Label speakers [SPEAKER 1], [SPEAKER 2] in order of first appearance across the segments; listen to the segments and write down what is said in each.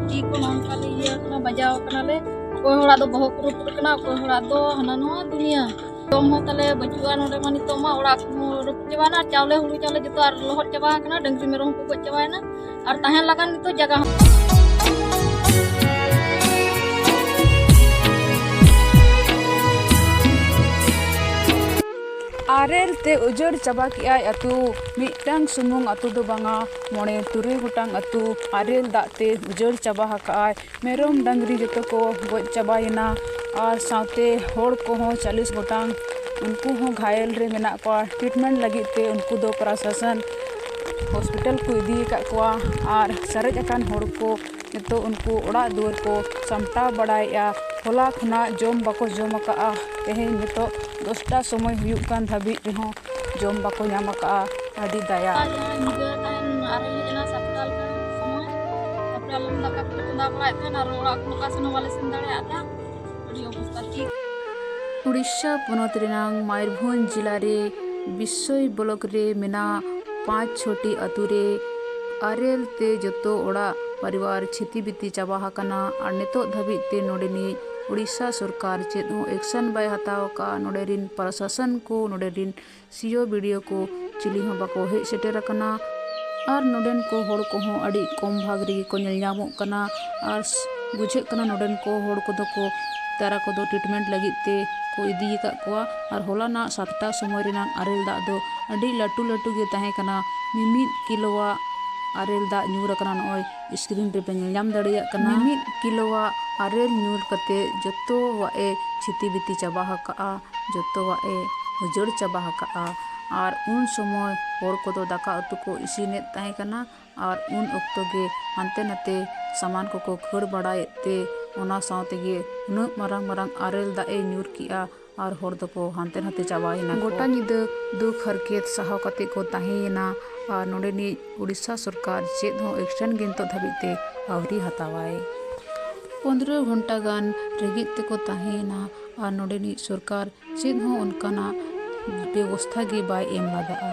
[SPEAKER 1] ᱛᱤ ᱠᱚ ᱱᱚᱝᱠᱟ ᱞᱮ ᱤᱭᱟᱹ ᱠᱟᱱᱟ ᱵᱟᱡᱟᱣ ᱠᱟᱱᱟᱞᱮ ᱚᱠᱚᱭ ᱦᱚᱲᱟᱜ ᱫᱚ ᱵᱚᱦᱚᱜ ᱠᱚ ᱨᱟᱹᱯᱩᱫ ᱠᱟᱱᱟ ᱚᱠᱚᱭ ᱦᱚᱲᱟᱜ ᱫᱚ ᱦᱟᱱᱟ ᱱᱚᱣᱟ ᱫᱩᱱᱤᱭᱟᱹ ᱡᱚᱢ ᱦᱚᱸ ᱛᱟᱞᱮ ᱵᱟᱹᱪᱩᱜᱼᱟ ᱱᱚᱰᱮ ᱢᱟ ᱱᱤᱛᱚᱜ ᱢᱟ ᱚᱲᱟᱜ ᱠᱚᱦᱚᱸ ᱨᱟᱹᱯᱩᱫ ᱪᱟᱵᱟᱭᱮᱱᱟ ᱟᱨ ᱪᱟᱣᱞᱮ ᱦᱩᱲᱩ ᱪᱟᱣᱞᱮ ᱡᱚᱛᱚ ᱟᱨ ᱞᱚᱦᱚᱫ ᱪᱟᱵᱟ ᱟᱠᱟᱱᱟ ᱰᱟᱹᱝᱨᱤ ᱢᱮᱨᱚᱢ ᱠᱚ ᱜᱚᱡ ᱪᱟᱵᱟᱭᱮᱱᱟ ᱟᱨ ᱛᱟᱦᱮᱱ ᱞᱟᱜᱟᱱ ᱱᱤᱛᱚᱜ ᱡᱟᱭᱜᱟ ᱦᱚᱸ
[SPEAKER 2] ᱟᱨᱮᱞ ᱛᱮ ᱩᱡᱟᱹᱲ ᱪᱟᱵᱟ ᱠᱮᱜᱼᱟᱭ ᱟᱛᱳ ᱢᱤᱫᱴᱟᱝ ᱥᱩᱢᱩᱝ ᱟᱛᱳ ᱫᱚ ᱵᱟᱝᱟ ᱢᱚᱬᱮ ᱛᱩᱨᱩᱭ ᱜᱚᱴᱟᱝ ᱟᱹᱛᱩ ᱟᱨᱮᱞ ᱫᱟᱜ ᱛᱮ ᱩᱡᱟᱹᱲ ᱪᱟᱵᱟ ᱟᱠᱟᱫ ᱟᱭ ᱢᱮᱨᱚᱢ ᱰᱟᱝᱨᱤ ᱡᱚᱛᱚ ᱠᱚ ᱜᱚᱡ ᱪᱟᱵᱟᱭᱮᱱᱟ ᱟᱨ ᱥᱟᱶᱛᱮ ᱦᱚᱲ ᱠᱚᱦᱚᱸ ᱪᱟᱞᱤᱥ ᱜᱚᱴᱟᱝ ᱩᱱᱠᱩ ᱦᱚᱸ ᱜᱷᱟᱭᱮᱞ ᱨᱮ ᱢᱮᱱᱟᱜ ᱠᱚᱣᱟ ᱴᱨᱤᱴᱢᱮᱱᱴ ᱞᱟᱹᱜᱤᱫ ᱛᱮ ᱩᱱᱠᱩ ᱫᱚ ᱯᱨᱚᱥᱟᱥᱚᱱ ᱦᱚᱥᱯᱤᱴᱟᱞ ᱠᱚ ᱤᱫᱤ ᱟᱠᱟᱫ ᱠᱚᱣᱟ ᱟᱨ ᱥᱟᱨᱮᱡ ᱟᱠᱟᱱ ᱦᱚᱲ ᱠᱚ ᱱᱤᱛᱚᱜ ᱩᱱᱠᱩ ᱚᱲᱟᱜ ᱫᱩᱣᱟᱹᱨ ᱠᱚ ᱥᱟᱢᱴᱟᱣ ᱵᱟᱲᱟᱭᱮᱫᱼᱟ ᱦᱚᱞᱟ ᱠᱷᱚᱱᱟᱜ ᱡᱚᱢ ᱵᱟᱠᱚ ᱡᱚᱢ ᱟᱠᱟᱫᱼᱟ ᱛᱮᱦᱮᱧ ᱱᱤᱛᱚᱜ ᱫᱚᱥᱴᱟ ᱥᱚᱢᱚᱭ ᱦᱩᱭᱩᱜ ᱠᱟᱱ ᱫᱷᱟᱹᱵᱤᱡ ᱨᱮᱦᱚᱸ ᱡᱚᱢ ᱵᱟᱠᱚ ᱧᱟᱢ ᱟᱠᱟᱫᱼᱟ ᱟᱹᱰᱤ ᱫᱟᱭᱟ ᱫᱟᱠᱟ ᱠᱚᱞᱮ ᱪᱚᱸᱫᱟ ᱵᱟᱲᱟᱭᱮᱫ ᱛᱟᱦᱮᱱ ᱟᱨ ᱚᱲᱟᱜ ᱠᱚ ᱚᱠᱟ ᱥᱮᱱ ᱦᱚᱸ ᱵᱟᱞᱮ
[SPEAKER 1] ᱥᱮᱱ ᱫᱟᱲᱮᱭᱟᱜ ᱛᱟᱦᱮᱱ ᱩᱰᱤᱥᱟ ᱯᱚᱱᱚᱛ
[SPEAKER 2] ᱨᱮᱱᱟᱜ ᱢᱚᱭᱩᱨᱵᱷᱚᱸᱡᱽ ᱡᱤᱞᱟ ᱨᱮ ᱵᱤᱥᱚᱭ ᱵᱞᱚᱠ ᱨᱮ ᱢᱮᱱᱟᱜ ᱯᱟᱸᱪ ᱪᱷᱚᱴᱤ ᱟᱹᱛᱩ ᱨᱮ ᱟᱨᱮᱞ ᱛᱮ ᱡᱚᱛᱚ ᱚᱲᱟᱜ ᱯᱚᱨᱤᱵᱟᱨ ᱪᱷᱤᱛᱤ ᱵᱤᱛᱤ ᱪᱟᱵᱟ ᱟᱠᱟᱱᱟ ᱟᱨ ᱱᱤᱛᱚᱜ ᱫᱷᱟᱹᱵᱤᱡ ᱛᱮ ᱱᱚᱰᱮᱱᱤᱡ ᱩᱰᱤᱥᱟ ᱥᱚᱨᱠᱟᱨ ᱪᱮᱫ ᱦᱚᱸ ᱮᱠᱥᱚᱱ ᱵᱟᱭ ᱦᱟᱛᱟᱣ ᱟᱠᱟᱫᱼᱟ ᱱᱚᱰᱮ ᱨᱮᱱ ᱯᱨᱚᱥᱟᱥᱚᱱ ᱠᱚ ᱱᱚᱰᱮ ᱨᱮᱱ ᱥᱤᱭᱳ ᱵᱤᱰᱤᱭᱳ ᱠᱚ ᱪᱤᱞᱤ ᱦᱚᱸ ᱵᱟᱠᱚ ᱦᱮᱡ ᱥᱮᱴᱮᱨ ᱟᱠᱟᱱᱟ᱾ ᱟᱨ ᱱᱚᱰᱮᱱ ᱠᱚ ᱦᱚᱲ ᱠᱚᱦᱚᱸ ᱟᱹᱰᱤ ᱠᱚᱢ ᱵᱷᱟᱜᱽ ᱨᱮᱜᱮ ᱠᱚ ᱧᱮᱞ ᱧᱟᱢᱚᱜ ᱠᱟᱱᱟ᱾ ᱟᱨ ᱵᱩᱡᱷᱟᱹᱜ ᱠᱟᱱᱟ ᱱᱚᱰᱮᱱ ᱠᱚ ᱦᱚᱲ ᱠᱚᱫᱚ ᱠᱚ ᱛᱟᱨᱟ ᱠᱚᱫᱚ ᱴᱨᱤᱴᱢᱮᱱᱴ ᱞᱟᱹᱜᱤᱫ ᱛᱮ ᱠᱚ ᱤᱫᱤ ᱟᱠᱟᱫ ᱠᱚᱣᱟ᱾ ᱟᱨ ᱦᱚᱞᱟ ᱱᱟᱜ ᱥᱟᱛᱴᱟ ᱥᱚᱢᱚᱭ ᱨᱮᱱᱟᱜ ᱟᱨᱮᱞ ᱫᱟᱜ ᱫᱚ ᱟᱹᱰᱤ ᱞᱟᱹᱴᱩ ᱞᱟᱹᱴᱩ ᱜᱮ ᱛᱟᱦᱮᱸ ᱠᱟᱱᱟ᱾ ᱢᱤᱢᱤᱫ ᱠᱤᱞᱳᱣᱟᱜ ᱟᱨᱮᱞ ᱫᱟᱜ ᱧᱩᱨ ᱟᱠᱟᱱᱟ ᱱᱚᱜᱼᱚᱭ᱾ ᱥᱠᱨᱤᱱ ᱨᱮᱯᱮ ᱧᱮᱞ ᱧᱟᱢ ᱫᱟᱲᱮᱭᱟᱜ ᱠᱟᱱᱟ ᱢᱤᱢᱤᱫ ᱠᱤᱞᱳᱣᱟᱜ ᱟᱨᱮᱞ ᱧᱩᱨ ᱠᱟᱛᱮ ᱡᱚᱛᱚᱣᱟᱜ ᱮ ᱪᱷᱤᱛᱤ ᱵᱤᱛᱤ ᱪᱟᱵᱟ ᱟᱠᱟᱫᱼᱟ ᱡᱚᱛᱚᱣᱟᱜ ᱮ ᱩᱡᱟᱹᱲ ᱪᱟᱵᱟ ᱟᱠᱟᱫᱼᱟ ᱟᱨ ᱩᱱ ᱥᱚᱢᱚᱭ ᱦᱚᱲ ᱠᱚᱫᱚ ᱫᱟᱠᱟ ᱩᱛᱩ ᱠᱚ ᱤᱥᱤᱱᱮᱫ ᱛᱟᱦᱮᱸ ᱠᱟᱱᱟ ᱟᱨ ᱩᱱ ᱚᱠᱛᱚ ᱜᱮ ᱦᱟᱱᱛᱮ ᱱᱟᱛᱮ ᱥᱟᱢᱟᱱ ᱠᱚᱠᱚ ᱠᱷᱟᱹᱲ ᱵᱟᱲᱟᱭᱮᱫ ᱛᱮ ᱚᱱᱟ ᱥᱟᱶ ᱛᱮᱜᱮ ᱩᱱᱟᱹᱜ ᱢᱟᱨᱟᱝ ᱢᱟᱨᱟᱝ ᱟᱨᱮᱞ ᱫᱟᱜ ᱮ ᱧᱩᱨ ᱠᱮᱫᱼᱟ ᱟᱨ ᱦᱚᱲ ᱫᱚ ᱠᱚ ᱦᱟᱱᱛᱮ ᱱᱷᱟᱛᱮ ᱪᱟᱵᱟ ᱮᱱᱟ ᱠᱚ᱾ ᱜᱚᱴᱟ ᱧᱤᱫᱟᱹ ᱫᱩᱠ ᱦᱟᱨᱠᱮᱛ ᱥᱟᱦᱟᱣ ᱠᱟᱛᱮ ᱠᱚ ᱛᱟᱦᱮᱸ ᱮᱱᱟ ᱟᱨ ᱱᱚᱰᱮᱱᱤᱡ ᱳᱰᱤᱥᱟ ᱥᱚᱨᱠᱟᱨ ᱪᱮᱫ ᱦᱚᱸ ᱮᱠᱥᱚᱱ ᱜᱮ ᱱᱤᱛᱚᱜ ᱫᱷᱟᱹᱵᱤᱡ ᱛᱮ ᱟᱹᱣᱨᱤ ᱦᱟᱛᱟᱣᱟᱭ᱾ ᱯᱚᱱᱫᱽᱨᱚ ᱜᱷᱚᱱᱴᱟ ᱜᱟᱱ ᱨᱮᱸᱜᱮᱡ ᱛᱮ ᱠᱚ ᱛᱟᱦᱮᱸ ᱮᱱᱟ ᱟᱨ ᱱᱚᱰᱮᱱᱤᱡ ᱥᱚᱨᱠᱟᱨ ᱪᱮᱫ ᱦᱚᱸ ᱚᱱᱠᱟᱱᱟᱜ ᱵᱮᱵᱚᱥᱛᱷᱟ ᱜᱮ ᱵᱟᱭ ᱮᱢ ᱞᱟᱜᱟᱜᱼᱟ᱾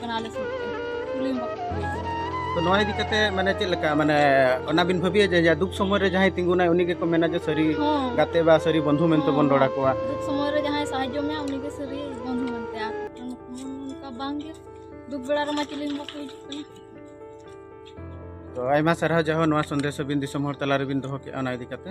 [SPEAKER 1] ᱠᱟᱱᱟ ᱞᱮ ᱥᱩᱨ ᱛᱮ ᱠᱩᱞᱤ ᱦᱚᱸ ᱵᱟᱠᱚ ᱠᱩᱞᱤ ᱠᱟᱱᱟ ᱛᱚ
[SPEAKER 3] ᱱᱚᱣᱟ ᱤᱫᱤ ᱠᱟᱛᱮ ᱢᱟᱱᱮ ᱪᱮᱫ ᱞᱮᱠᱟ ᱢᱟᱱᱮ ᱚᱱᱟ ᱵᱤᱱ ᱵᱷᱟᱹᱵᱤᱭᱟ ᱡᱮ ᱡᱟ ᱫᱩᱠ ᱥᱚᱢᱚᱭ ᱨᱮ ᱡᱟᱦᱟᱸᱭ ᱛᱤᱸᱜᱩᱱᱟᱭ ᱩᱱᱤ ᱜᱮᱠᱚ ᱢᱮᱱᱟ ᱡᱮ ᱥᱟᱹᱨᱤ ᱦᱚᱸ ᱜᱟᱛᱮ ᱵᱟ ᱥᱟᱹᱨᱤ
[SPEAKER 1] ᱵᱚᱱᱫᱷᱩ
[SPEAKER 3] ᱢᱮᱱᱛᱮ ᱵᱚᱱ ᱨᱚᱲ ᱟᱠᱚᱣᱟ ᱫᱩᱠ ᱥᱚᱢᱚᱭ ᱨᱮ ᱡᱟᱦᱟᱸᱭ ᱥᱟᱦᱟᱡᱽᱡᱚ
[SPEAKER 1] ᱢᱮᱭᱟ ᱩᱱᱤ ᱜᱮ ᱥᱟᱹᱨᱤ ᱵᱚᱱᱫᱷᱩ ᱢᱮᱱᱛᱮ ᱟᱨ
[SPEAKER 3] ᱚᱱᱠᱟ ᱵᱟᱝ ᱜᱮ ᱫᱩᱠ ᱵᱮᱲᱟ ᱨᱮᱢᱟ ᱪᱤᱞᱤ ᱦᱚᱸ ᱵᱟᱠᱚ ᱦᱤᱡᱩᱜ ᱠᱟᱱᱟ ᱛᱚ ᱟᱭᱢᱟ ᱥᱟᱨᱦᱟᱣ ᱡᱟᱦᱳ ᱱᱚᱣᱟ ᱥᱚᱱᱫᱮᱥ ᱟᱹᱵᱤᱱ ᱫᱤᱥᱚᱢ ᱦᱚᱲ ᱛᱟᱞᱟ ᱨᱮᱵᱤᱱ ᱫᱚᱦᱚ ᱠᱮᱜᱼᱟ ᱚᱱᱟ ᱤᱫᱤ ᱠᱟᱛᱮ